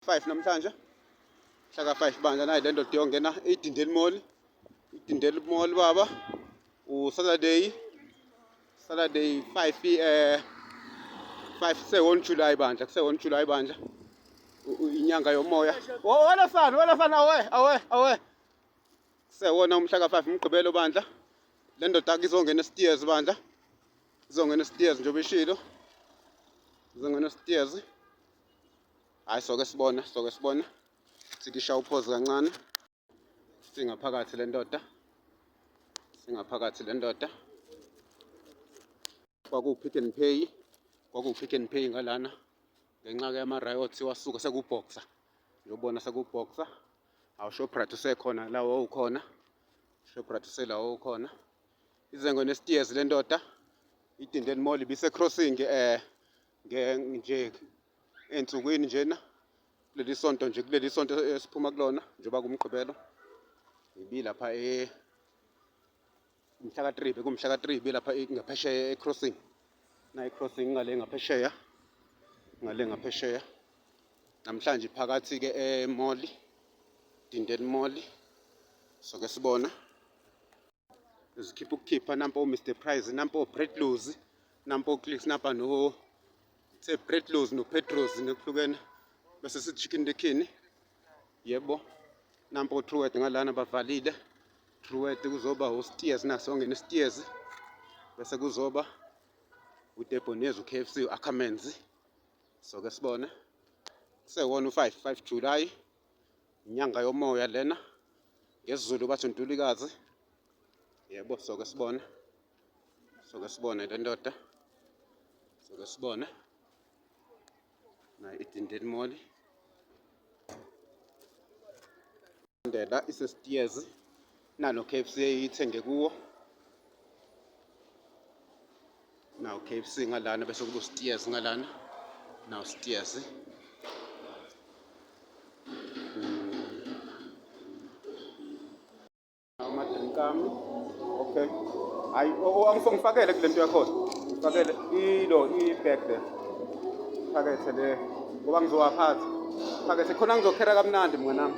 5 namhlanje hlaka 5 bandla nayi lento diyongena idindeli mall idindeli mall baba u Saturday Saturday 5 eh 5 kuse 1 July bandla kuse 1 July bandla inyanga yomoya wena sana wena sana awe awe awe kuse wona umhla ka 5 umgqibelo bandla le ndoda izongena stairs bandla izongena stairs njengoba ishilo izongena stairs Hayi soke sibona, soke sibona. Sikisha uphozi kancane. Singaphakathi le ndoda. Singaphakathi le ndoda. Kwakuwupick and pay. Kwakuwupick and pay ngalana. Ngenxa ke yama-riots wasuka sekuboxer. Yobona sekuboxer. Awu Shoprite usekhona la wawukhona. Shoprite usela wawukhona. Izengo nesitiyezi le ndoda. Idindeni Mall ibise-crossing eh nje ey'nsukwini njena kuleli sonto nje kuleli sonto esiphuma kulona njengoba kumgqibelo ngibilapha e umhlaka 3 bekumhlaka 3 bilapha ngaphesheya ecrossing na ecrossing ngale ngaphesheya ngale ngaphesheya namhlanje phakathi ke emoli dindel moli soke sibona Uzikhipha ukukhipha nampo Mr Price nampo Bredlows nampo Clicks nampa no se Bredlows no Petros nokuhlukene bese si Chicken the King yebo nampo Truet ngalana bavalile Truet kuzoba uSteers naso ngene Steers bese kuzoba uDebonez uKFC uAkamenzi so ke sibone kusewona u5 5 July inyanga yomoya lena ngesiZulu bathi uNtulikazi yebo soke sibone soke sibone le ndoda soke sibone nayo idindeni moli ndela isesitiyezi Nalo KFC ithenge kuwo. Nawo KFC ngalana bese kubo stairs ngalana. Nawo stairs. Amadrinkami. Okay. Hayi angifakele kule nto yakhona. Ngifakele ilo i-bag le. Phakethe le. Ngoba ngizowaphatha. Phakethe khona ngizokhera kamnandi mnganami.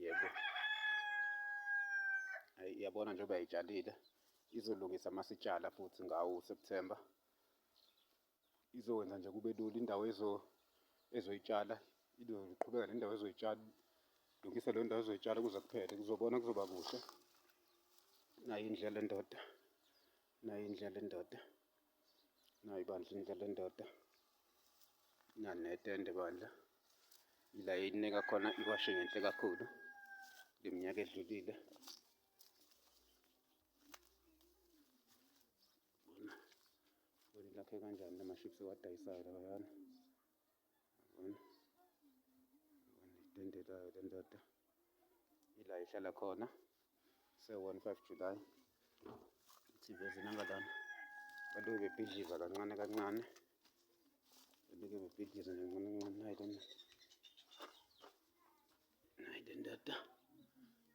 yebo yabona njengoba yayitshalile izolungisa masitshala futhi ngawo uSeptember izokwenza nje kube lula indawo ezo ezoyitshala izoqhubeka nendawo ezoyitshala lungisa leyo ndawo ezoyitshala kuze kuphele kuzobona kuzoba kuhle nayo indlela endoda nayo indlela endoda nayo bandla indlela endoda nanetende bandla ila eyinika khona iwashe ngenhle kakhulu leminyaka edlulile bona lakhe kanjani lamaships ewadayisayo labayana itende layo le ndoda ila ihlala khona se-one five july i-tv ezinangalana baloke bebhidliza kancane kancane baloke bebhidliza kancane kancane nayi lena nayi le ndoda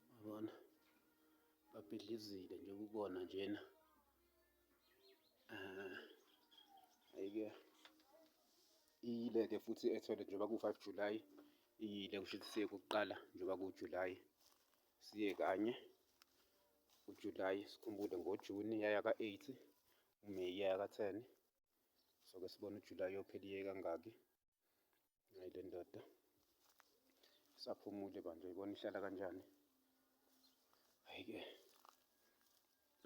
babona babhidlizile nje ukubona njena Ah, ayike iyile-ke futhi ethole njengoba ku-five July iyile kusho ukuthi siye kokuqala njengoba ku-July siye kanye uJuly sikhumbule ngoJuni yaya ka-eight uMeyi yaya ka-ten so-ke sibone uJuly yophela iye kangaki Hayi le ndoda isaphumule bandla uyibona ihlala kanjani. Hayi-ke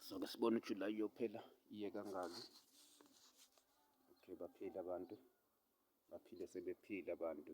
soke sibone uJulayi uyophela iye kangaki. Okay baphile abantu baphile sebephile abantu.